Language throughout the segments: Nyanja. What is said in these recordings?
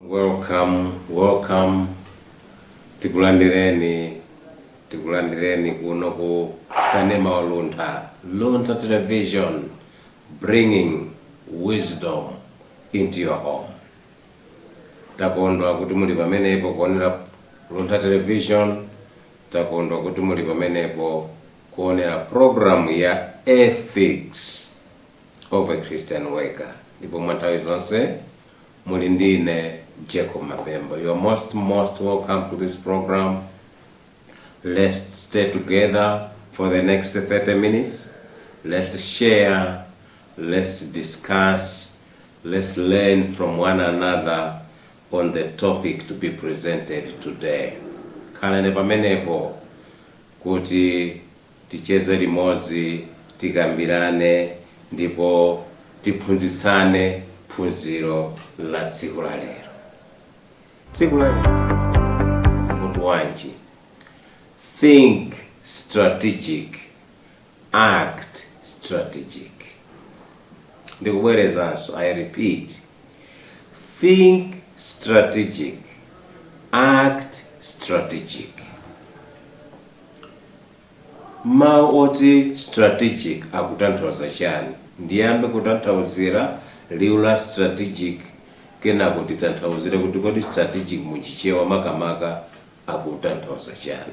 Welcome, welcome. Tikulandireni, tikulandireni kuno ku Kanema wa Luntha. Luntha Television bringing wisdom into your home. Takondwa kuti muli pamenepo kuonera Luntha Television. Takondwa kuti muli pamenepo kuonera programu ya Ethics of a Christian Worker. Ndipo mwa nthawi zonse muli ndine Jacob Mapemba. You are most most welcome to this program. Let's stay together for the next 30 minutes. Let's share. Let's discuss. Let's learn from one another on the topic to be presented today. Khalani pamenepo kuti ticheze limodzi, tikambirane ndipo tiphunzitsane phunziro la tsiku la lero. Tsiku la lero mutu wanji? Think strategic Act strategic ndikubwerezanso I repeat think strategic, act strategic mau oti strategic akutanthauza chani? Ndiyambe kutanthauzira liu la strategic kenako titanthauzire kuti kodi strategic mu Chichewa makamaka akutanthauza chani.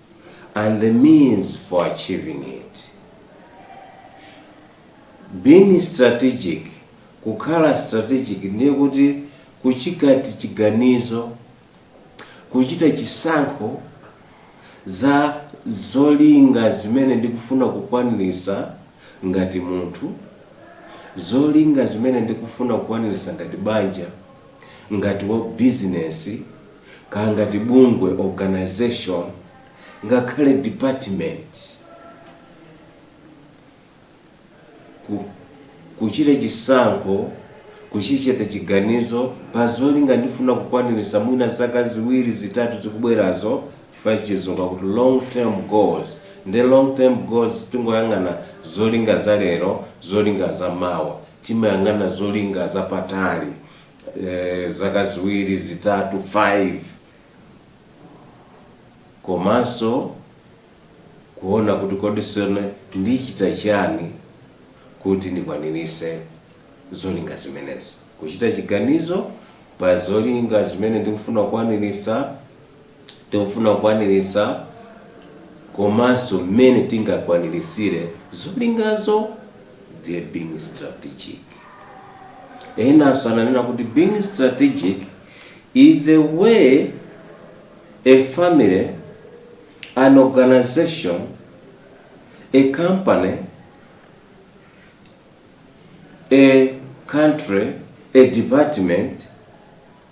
and the means for achieving it. Being strategic, kukhala strategic ndiye kuti kuchita chiganizo, kuchita chisankho za zolinga zimene ndikufuna kukwanirisa ngati munthu, zolinga zimene ndikufuna kukwanirisa ngati banja, ngati wa bizinesi, kaya ngati bungwe, organization, ngakhale department, ku, kuchita chisankho, kuchichita chiganizo pa zolinga ndikufuna kukwanilisa mwina zaka ziwiri, zitatu zikubwerazo chifukwa chizungu akuti long term goals nde long term goals sitingoyang'ana zolinga za lero, zolinga za mawa. Timayang'ana zolinga zapatali, zaka ziwiri, zitatu, 5, komanso kuona kuti kodi tsono ndichita chiyani kuti ndikwanirise zolinga zimenezi. Kuchita chiganizo pa zolinga zimene ndikufuna kukwanirisa. tikufuna kukwanilisa komanso mmene tingakwanilisire zolingazo ndiye being strategic enanso ananena kuti being strategic is the way a family an organization a company a country a department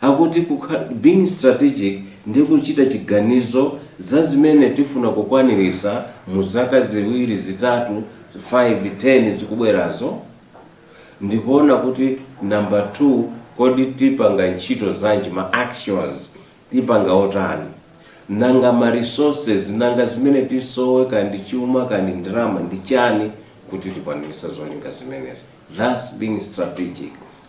Akuti being strategic, ndi kuchita chiganizo za zimene tifuna kukwanirisa mu zaka ziwiri, zitatu, 5, 10 zikubwerazo. Ndikuona kuti number 2 kodi tipanga ntchito zanji, ma actions tipanga otani? Nanga ma resources, nanga zimene tisowe kaya ndi chuma kaya ndi ndalama ndi chani kuti tikwanirise zolinga zimenezi? That's being strategic.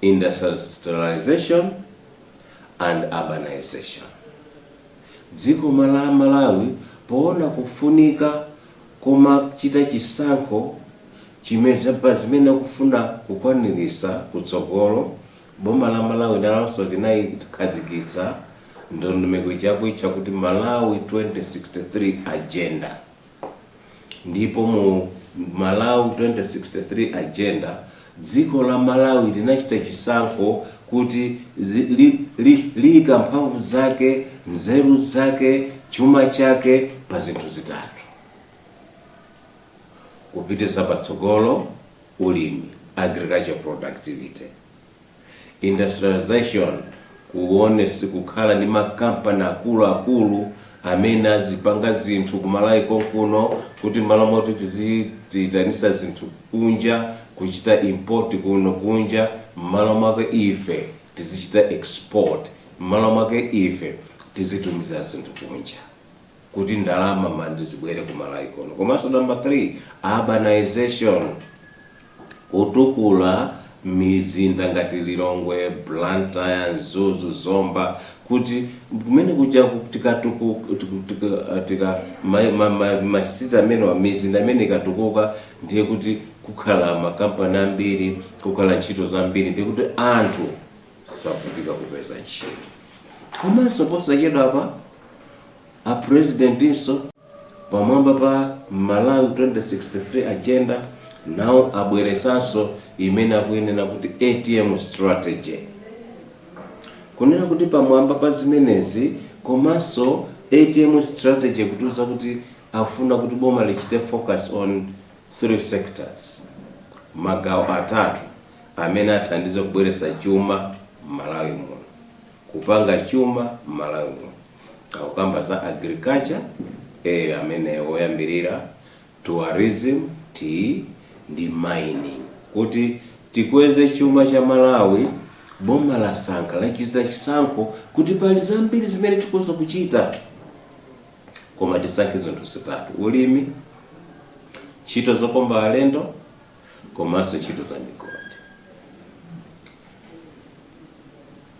Industrialization and Urbanization Dziko la Malawi poona kufunika komachita chisankho chimene pa zimene akufuna kukwanilisa kutsogolo, boma la Malawi nalonso linaikhazikitsa ndondomeko ija akuitcha kuti Malawi 2063 Agenda. Ndipo mu Malawi 2063 Agenda, dziko la Malawi linachita chisankho kuti zi, li, li, liika mphamvu zake, nzeru zake, chuma chake pa zinthu zitatu. Kupititsa patsogolo ulimi, agriculture productivity. Industrialization kuonetsetsa kukhala ndi ma company akulu akulu amene azipanga zinthu ku Malawi konkuno kuti mmalo moti tizidziitanisa zinthu kunja kuchita import kuno kunja mmalo mwake ife tizichita export mmalo mwake ife tizitumiza zinthu kunja kuti ndalama mandi zibwere ku Malawi kuno komanso number three, urbanization. kutukula mizinda ngati Lilongwe, Blantyre, Mzuzu, Zomba kuti kumene kuja ku- tikatuku- tiku- tika- tika- ma- ma- ma- masiti amenewa mizinda imeneyi ikatukuka ndiye kuti kukhala makampani ambiri kukhala ntchito zambiri ndiye kuti anthu savutika kupeza ntchito komanso posachedwapa A President nso pamwamba pa Malawi 2063 agenda nawo abweresanso imene akuyinena kuti ATM Strategy. Kunena kuti pamwamba pa zimenezi komanso ATM Strategy ikutiuza kuti akufuna kuti boma lichite focus on three sectors, magawo atatu amene athandize kubweretsa chuma m'Malawi muno. kupanga chuma mmalawi muno akukamba za agriculture A amene woyambirira tourism T ndi mining kuti tikweze chuma cha malawi boma lasankha lachita chisankho kuti pali zambiri zimene tikoza kuchita koma tisankhe zinthu zitatu ulimi ntchito zokopa alendo komanso ntchito za migodi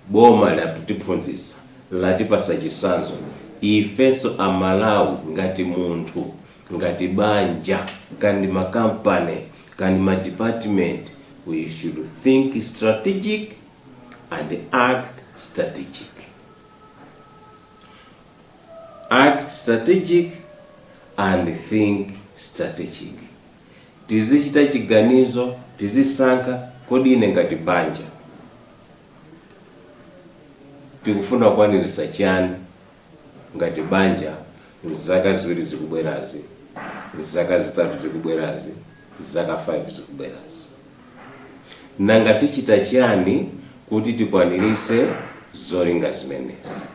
boma likutiphunzitsa latipasa chisanzo ifenso amalawi ngati munthu ngati banja kandi makampani kandi madepartment we should think strategic and act strategic act strategic and think strategic tizichita chiganizo, tizisankha, kodi ine ngati banja tikufuna kukwaniritsa chiyani ngati banja zaka ziwiri zikubwerazi, zaka zitatu zikubwerazi, zaka 5 zikubwerazi? Nanga tichita chiyani kuti tikwaniritse zolinga zimenezi?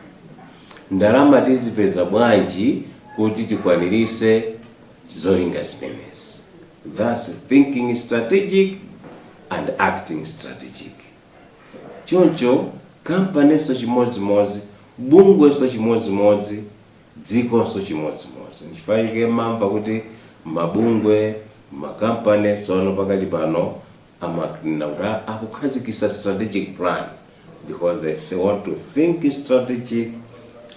Ndalama tizipeza bwanji kuti tikwaniritse zolinga zimenezi that's thinking strategic and acting strategic choncho kampaninso chimodzimodzi bungwenso chimodzimodzi dzikonso chimodzimodzi nchifukwa chake mumamva kuti mabungwe makampani tsopano pakali pano Amanena kuti a akukhazikisa strategic plan because they they want to think strategic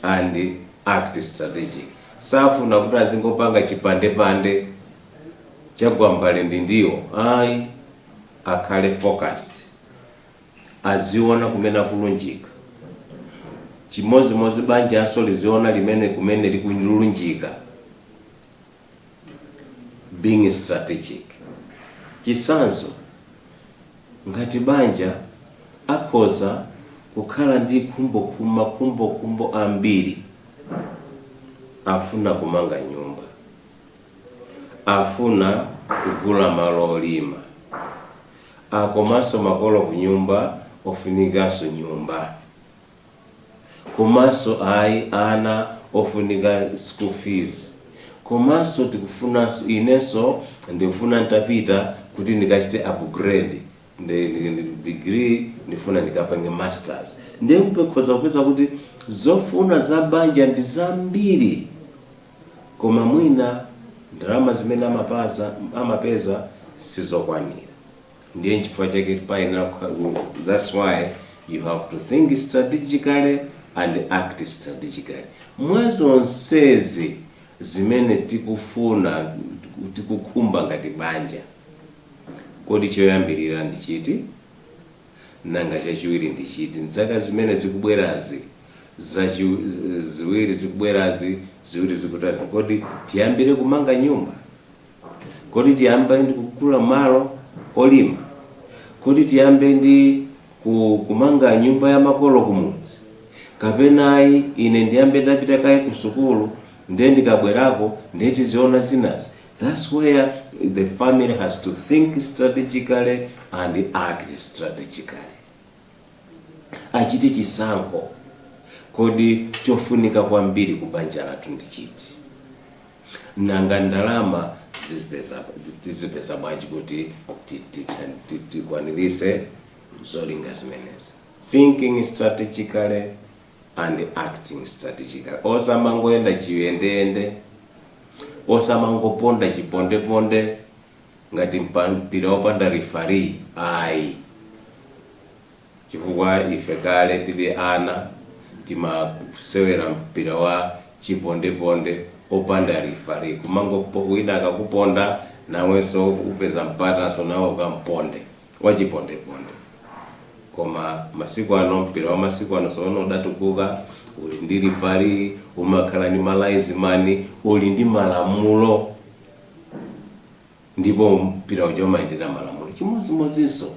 and act strategic safuna kuti azingopanga chipandepande cha gwambale ndi ndiwo ayi akhale focused aziona kumene akulunjika chimodzimodzi banjanso liziona limene kumene likulunjika being strategic chisanzo ngati banja akhoza kukhala ndi khumbokhumbo makhumbokhumbo ambiri afuna kumanga nyumba afuna kugula malo olima komanso makolo kunyumba ofunikanso nyumba komanso ayi ana ofunika school fees komanso tikufunanso inenso ndifuna ntapita kuti ndikachite upgrade degree ndifuna ndikapange masters nde mukakhoza kupeza kuti zofuna za banja ndi zambiri koma mwina ndalama zimene amapeza sizokwanira. Ndiye nchifukwa chake payenera kukhala that's why you have to think strategically and act strategically. Mwa zonsezi zimene tikufuna tikukhumba ngati banja, kodi choyambirira ndi chiti? Nanga chachiwiri ndi chiti? M'zaka zimene zikubwerazi zachi ziwiri zikubwerazi ziwiri zikutatu, kodi tiyambire kumanga nyumba? Kodi tiyambe ndi kugula malo olima? Kodi tiyambe ndi ku, kumanga nyumba ya makolo kumudzi? Kapena ayi, ine ndiyambe ndapita kaye kusukulu, ndiye ndikabwerako ndiye tiziona zinazi? That's where the family has to think strategically and act strategically. Achite chisankho, kodi chofunika kwambiri ku banja lathu ndi chiti? Nanga ndalama tizipeza bwanji kuti tikwaniritse zolinga zimenezi? Thinking strategically and acting strategically. Osamangoyenda chiyendeyende, osamangoponda chipondeponde ngati mpira wopanda referee ayi. Chifukwa ife kale tili ana timasewera mpira wa chipondeponde opanda referee kumango wina akakuponda nawenso upeza mpatanso nawe ukamponde wachipondeponde koma masiku ano mpira wa masiku ano tsopano udatukuka uli ndi referee umakhala ndi ma linesman uli ndi malamulo ndipo mpira uja umayendera malamulo chimodzimodzinso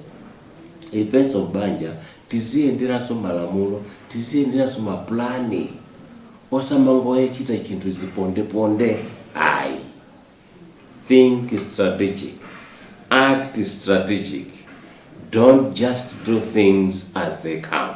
ifenso m'banja tiziyenderanso malamulo tiziyenderanso mapulani osamangoyachita chinthu zipondeponde ayi think strategic act strategic don't just do things as they come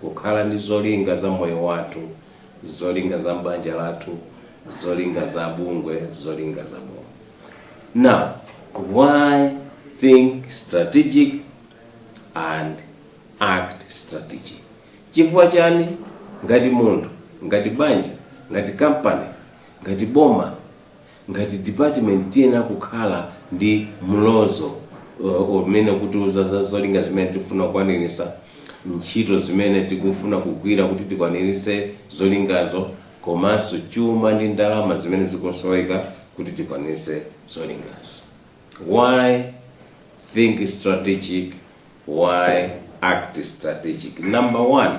Kukhala ndi zolinga za moyo wathu, zolinga za m'banja lathu, zolinga za bungwe, zolinga za boma. Now, why think strategic and act strategic? Chifukwa chani ngati munthu, ngati banja, ngati company, ngati boma Ngati department tiyenera kukhala ndi mlozo umene ukutiuza za zolinga zimene tikufuna kukwanirisa, ntchito zimene tikufuna kugwira kuti tikwanirise zolingazo komanso chuma ndi ndalama zimene zikusoweka kuti tikwanirise zolingazo. Why think strategic, why act strategic? Number one.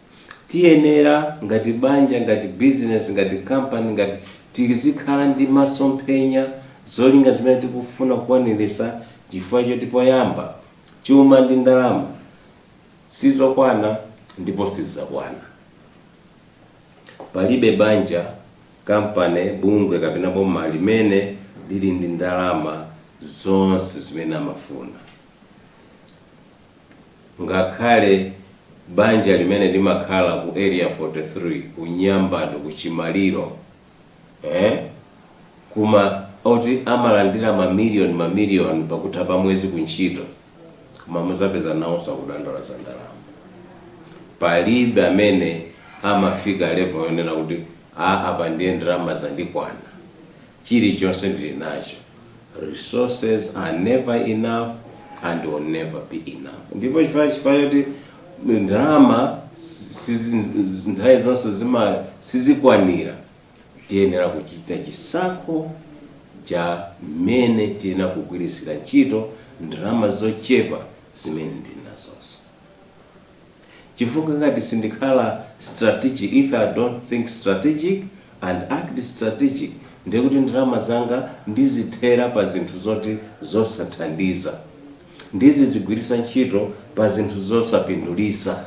Tiyenera ngati banja, ngati business, ngati company, ngati tizikhala ndi masomphenya, zolinga zimene tikufuna kukwanirisa chifukwa choti poyamba chuma ndi ndalama sizokwana ndipo sizizakwana. Palibe banja, company, bungwe kapena boma limene lili ndi ndalama zonse zimene amafuna. Ngakhale banja limene limakhala ku area 43 ku Nyambadwe ku Chimaliro eeh kuma oti amalandira mamiliyoni mamiliyoni pakutha pa mwezi ku ntchito koma muzapeza nawonso akudandaula za ndalama. Palibe amene amafika level yonena kuti aah apa ndiye ndalama zandikwana. chilichonse ndili nacho, resources are never enough and will never be enough ndipo chifukwa chifukwa choti ndalama sizi nthawi zonse zima sizikwanira tiyenera kuchita chisankho cha mmene tiyenera kugwiritsira ntchito ndalama zochepa zimene ndili nazozo. Chifukwa ngati sindikhala strategic, if I don't think strategic and act strategic, ndiye kuti ndalama zanga ndizithera pa zinthu zoti zosathandiza, ndizizigwirisa ntchito pa zinthu zosapindulisa.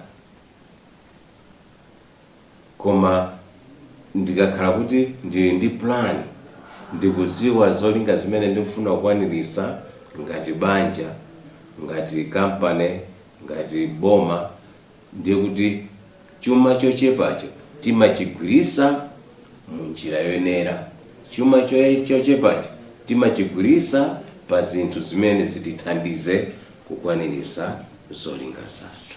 Koma ndikakhala kuti ndili ndi plan, ndikuziwa zolinga zimene ndikufuna kukwanirisa ngati banja, ngati company, ngati boma, ndiye kuti chuma chochepacho timachigwirisa mu njira yoyenera. Chuma chochepacho timachigwirisa pa zinthu zimene zitithandize kukwanirisa zolinga zathu.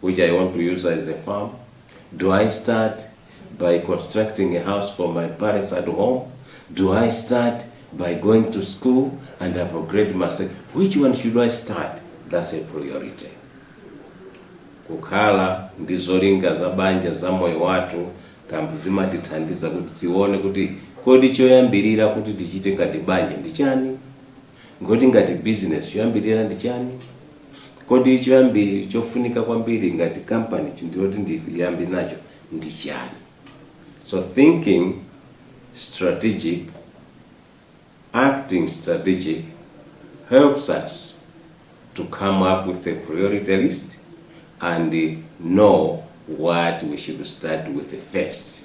which I want to use as a farm? Do I start by constructing a house for my parents at home? Do I start by going to school and upgrade myself? Which one should I start? That's a priority. kukhala ndi zolinga za banja za moyo wathu kambi zimatithandiza kuti tione kuti kodi choyambirira kuti tichite ngati banja ndi chani Ngoti ngati business choyambirira ndi chani? Kodi choyambirira chofunika kwambiri ngati company choti ndiyambe nacho ndi chani? So thinking strategic, acting strategic helps us to come up with a priority list and know what we should start with first.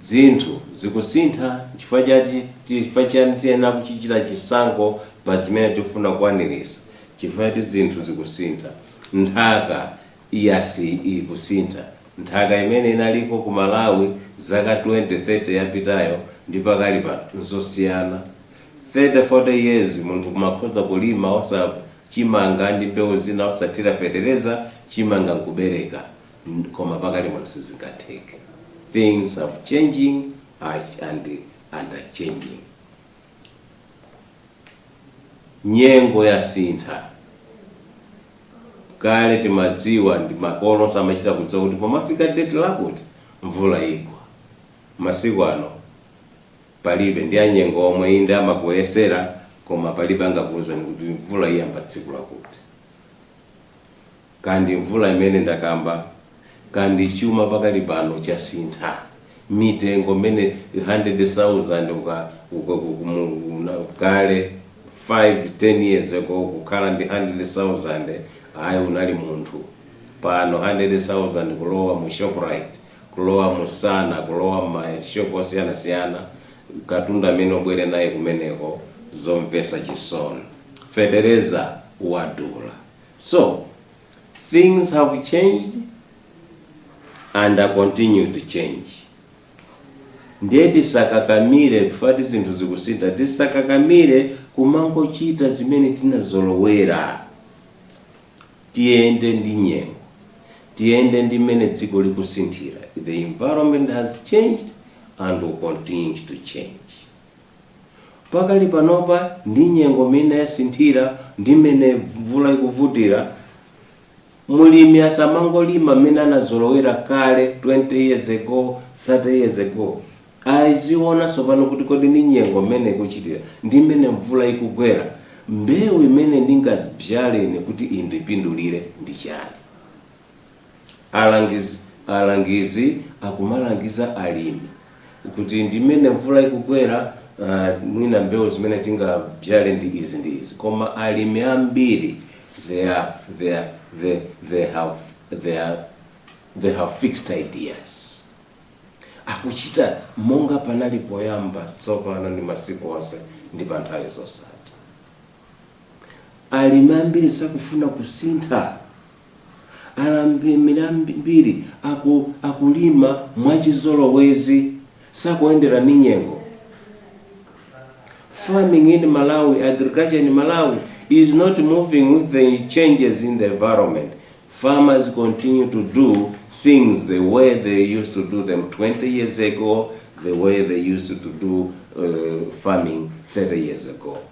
Zinthu zikusintha nchifukwa chake tiyenera kuchichita chisankho pa zimene tikufuna kukwanirisa chifukwa choti zinthu zikusintha nthaka iyasi ikusintha nthaka imene inaliko ku Malawi zaka 20 30 yapitayo ndi pakali pano nzosiyana 30 40 years munthu kumakhoza kulima osa chimanga ndi mbewu zina osathira fetereza chimanga nkubereka koma pakali pano sizingatheke things are changing and are changing nyengo yasintha kale timadziwa ndi makolo onse amachita kudziwa kuti pomafika date lakuti mvula igwa masiku ano palibe ndi anyengo omwe inde amakuyesera koma palibe angakuwuzeni kuti mvula iyamba tsiku lakuti Kaya ndi mvula imene ndakamba, kaya ndi chuma pakali pano chasintha mitengo mmene 100,000 kale 5, 10 years ago kukhala ndi 100,000 ayi unali munthu. Pano 100,000 kulowa mu Shoprite, kulowa mu Sana, kulowa mma shop osiyanasiyana katundu amene ubwere naye kumeneko zomvesa chisoni. Fetereza wadula. So things have changed and are continue to change. Ndiye tisakakamire poti zinthu zikusintha, tisakakamire kumangochita zimene tinazolowera. Tiyende ndi nyengo, tiyende ndi mmene dziko likusinthira. The environment has changed and will continue to change. Pakali panopa ndi nyengo mmene yasinthira ndi mmene mvula ikuvutira, mlimi asamangolima mmene anazolowera kale 20 years ago, 30 years ago. Aziona tsopano kuti kodi ndi nyengo mmene ikuchitira ndi mmene mvula ikugwera, mbewu imene ndingadzale ine kuti indipindulire ndi chani? Alangizi akumalangiza alimi kuti ndi mmene mvula ikugwera ah, mwina mbewu zimene tingabzale ndi izi ndi izi koma alimi ambiri they have fixed ideas akuchita monga panali poyamba tsopano ndi masiku onse ndi pa nthawi zosatha Alimi ambiri sakufuna kusintha. Alimi ambiri akulima mwachizolowezi, sakuendera ndi nyengo. Farming in Malawi, agriculture in Malawi is not moving with the changes in the environment. Farmers continue to do things the way they used to do them 20 years ago, the way they used to do uh, farming 30 years ago.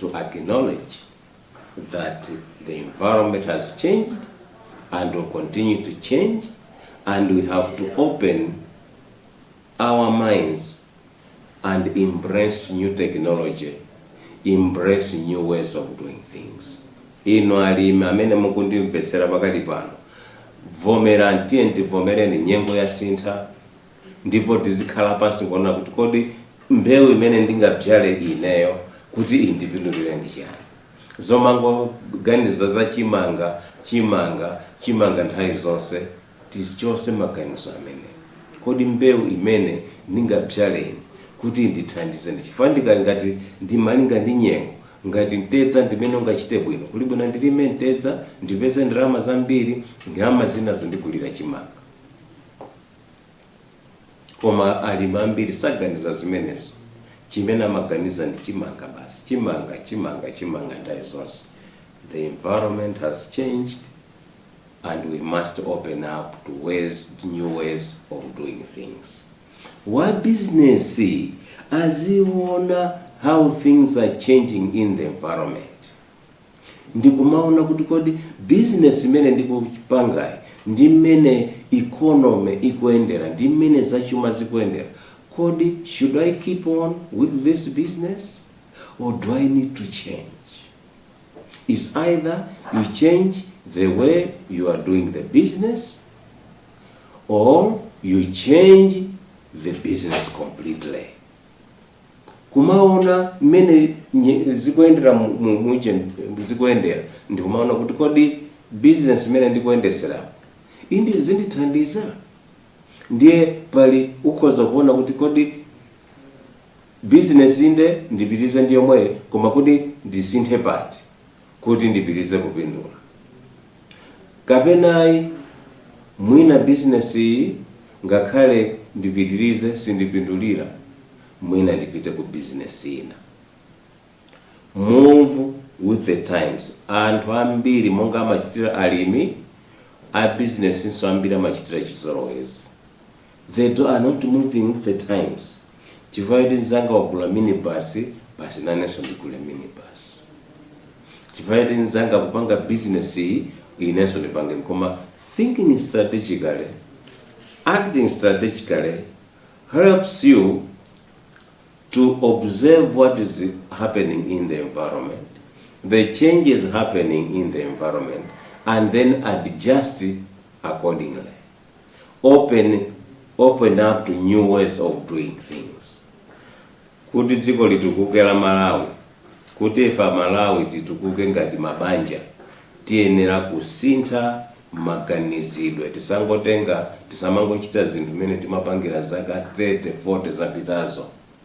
to acknowledge that the environment has changed and will continue to change and we have to open our minds and embrace new technology embrace new ways of doing things inu alimi amene mukundimvetsera pakali pano vomerani tiyeni tivomereni nyengo yasintha ndipo tizikhala pansi kuona kuti kodi mbewu imene ndingabzale ineyo kuti indipindulire ndi chiyani zomangoganiza za chimanga chimanga chimanga nthawi zonse tichotse maganizo amene kodi mbewu imene ndingabzale ine kuti indithandize ndi chifukwa ngati ndi malinga ndi nyengo ngati mtedza ndimene ungachite bwino kuli bwino ndilime mtedza ndipeze ndalama zambiri ndalama zina zindigulire chimanga Koma alimi ambiri saganiza zimenezo. Chimene amaganiza ndi chimanga basi, chimanga, chimanga, chimanga nthawi zonse. The environment has changed and we must open up to new ways of doing things. Wa business aziona how things are changing in the environment. Ndikumaona kuti kodi business imene ndikupangayi ndi mmene economy ikuyendera, ndi mmene zachuma zikuyendera, kodi should I keep on with this business or do I need to change? It's either you change the way you are doing the business or you change the business completely. kumaona mmene nye- zikuyendera mu- mu- mu ujeni zikuyendera ndikumaona kuti kodi bizinesi imene ndikuyendetsera indi zindithandiza ndiye pali ukhoza kuona kuti kodi bizinesi inde ndipitize ndi yomweyo koma kodi ndisinthe pati kuti ndipitize kupindula. Kapena ayi, mwina bizinesiyi ngakhale ndipitirize sindipindulira, mwina ndipite ku bizinesi ina. Move with the times. Anthu ambiri monga amachitira alimi, a bizinesinso ambiri amachitira chizolowezi. They are not moving with the times chifukwa choti mzanga wagula minibus basi nanenso ndigule minibus. Chifukwa choti mzanga akupanga business iyi inenso ndipange koma thinking strategically, acting strategically helps you to observe what is happening in the environment, the changes happening in the environment, and then adjust accordingly. open open up to new ways of doing things kuti dziko litukuke la malawi kuti ife amalawi titukuke ngati mabanja tiyenera kusintha maganizidwe tisangotenga tisamangochita zinthu mmene tinkapangira zaka 30 40 zapitazo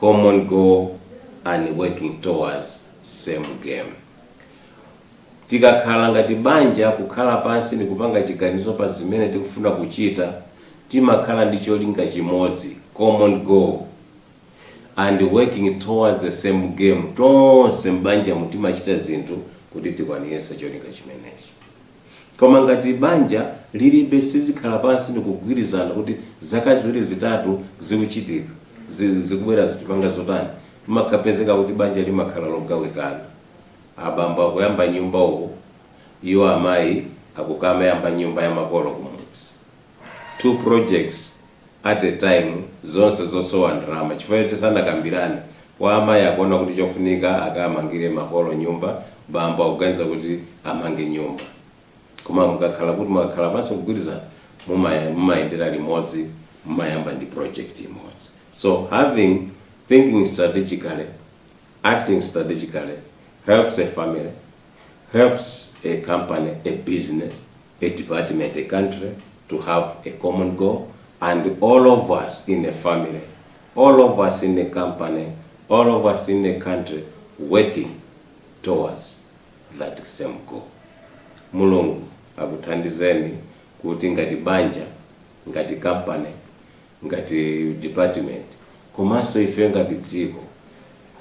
common goal and working towards same aim. Tikakhala ngati banja kukhala pansi ndikupanga chiganizo pa zimene tikufuna kuchita timakhala ndi cholinga chimodzi common goal and working towards the same aim tonse m'banjamu timachita zinthu kuti tikwaniritse cholinga chimenecho Koma ngati banja lilibe silikhala pansi ndikugwirizana kuti zaka ziwiri zitatu zikuchitika zi, zikubwerazi tipanga zotani zimakapezeka kuti banja limakhala logawikana abambo akuyamba nyumba uku iwo amayi akukamayamba nyumba ya makolo kumudzi two projects at a time zonse zosowa ndalama chifukwa choti sanakambirane, wa amayi akuona kuti chofunika akamangire makolo nyumba, bambo akuganiza kuti amange nyumba. Koma mukakhala kuti mwakhala pansi nkugwirizana mumaya mumayendera limodzi mumayamba ndi project imodzi. So having thinking strategically, acting strategically helps a family, helps a company, a business. a department, a country to have a common goal and all of us in a family, all of us in a company, all of us in a country working towards that same goal. Mulungu akuthandizeni kuti ngati banja, ngati company, ngati department, komanso ife ngati dziko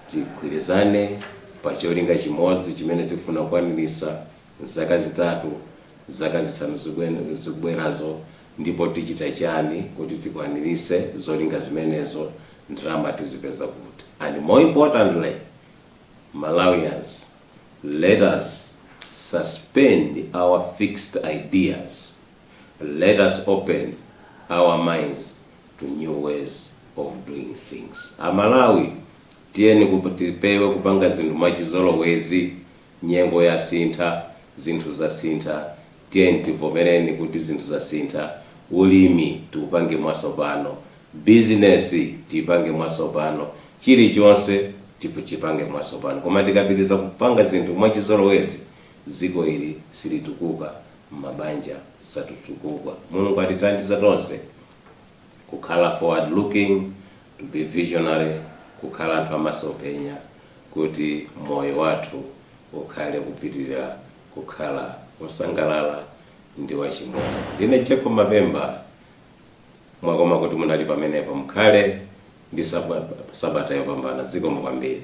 tigwirizane pa cholinga chimodzi chimene tifuna kukwanirisa Zaka zitatu, zaka zisanu zikubwerazo ndipo tichita chani kuti tikwanirise zolinga zimenezo? Ndalama tizipeza kuti? And more importantly Malawians let us suspend our fixed ideas, let us open our minds to new ways of doing things. Amalawi tiyeni tipewe kupanga zinthu mwachizolowezi Nyengo yasintha, zinthu zasintha, tiyeni tivomereni kuti zinthu zasintha, ulimi tiupange mwasopano, bizinesi tiipange mwasopano, chilichonse tichipange mwasopano koma tikapitiliza kupanga zinthu mwachizolowezi dziko ili silitukuka, mabanja satukuka. Mulungu atithandize tonse kukhala forward looking To be visionary, Kukhala anthu a masomphenya kuti moyo wathu ukhale ukupitirira kukhala wosangalala ndi wachimwemwe. Ndine Jacob Mapemba, mwakoma kuti munali pamenepo. Mukhale ndi sabata yopambana. Zikomo kwambiri.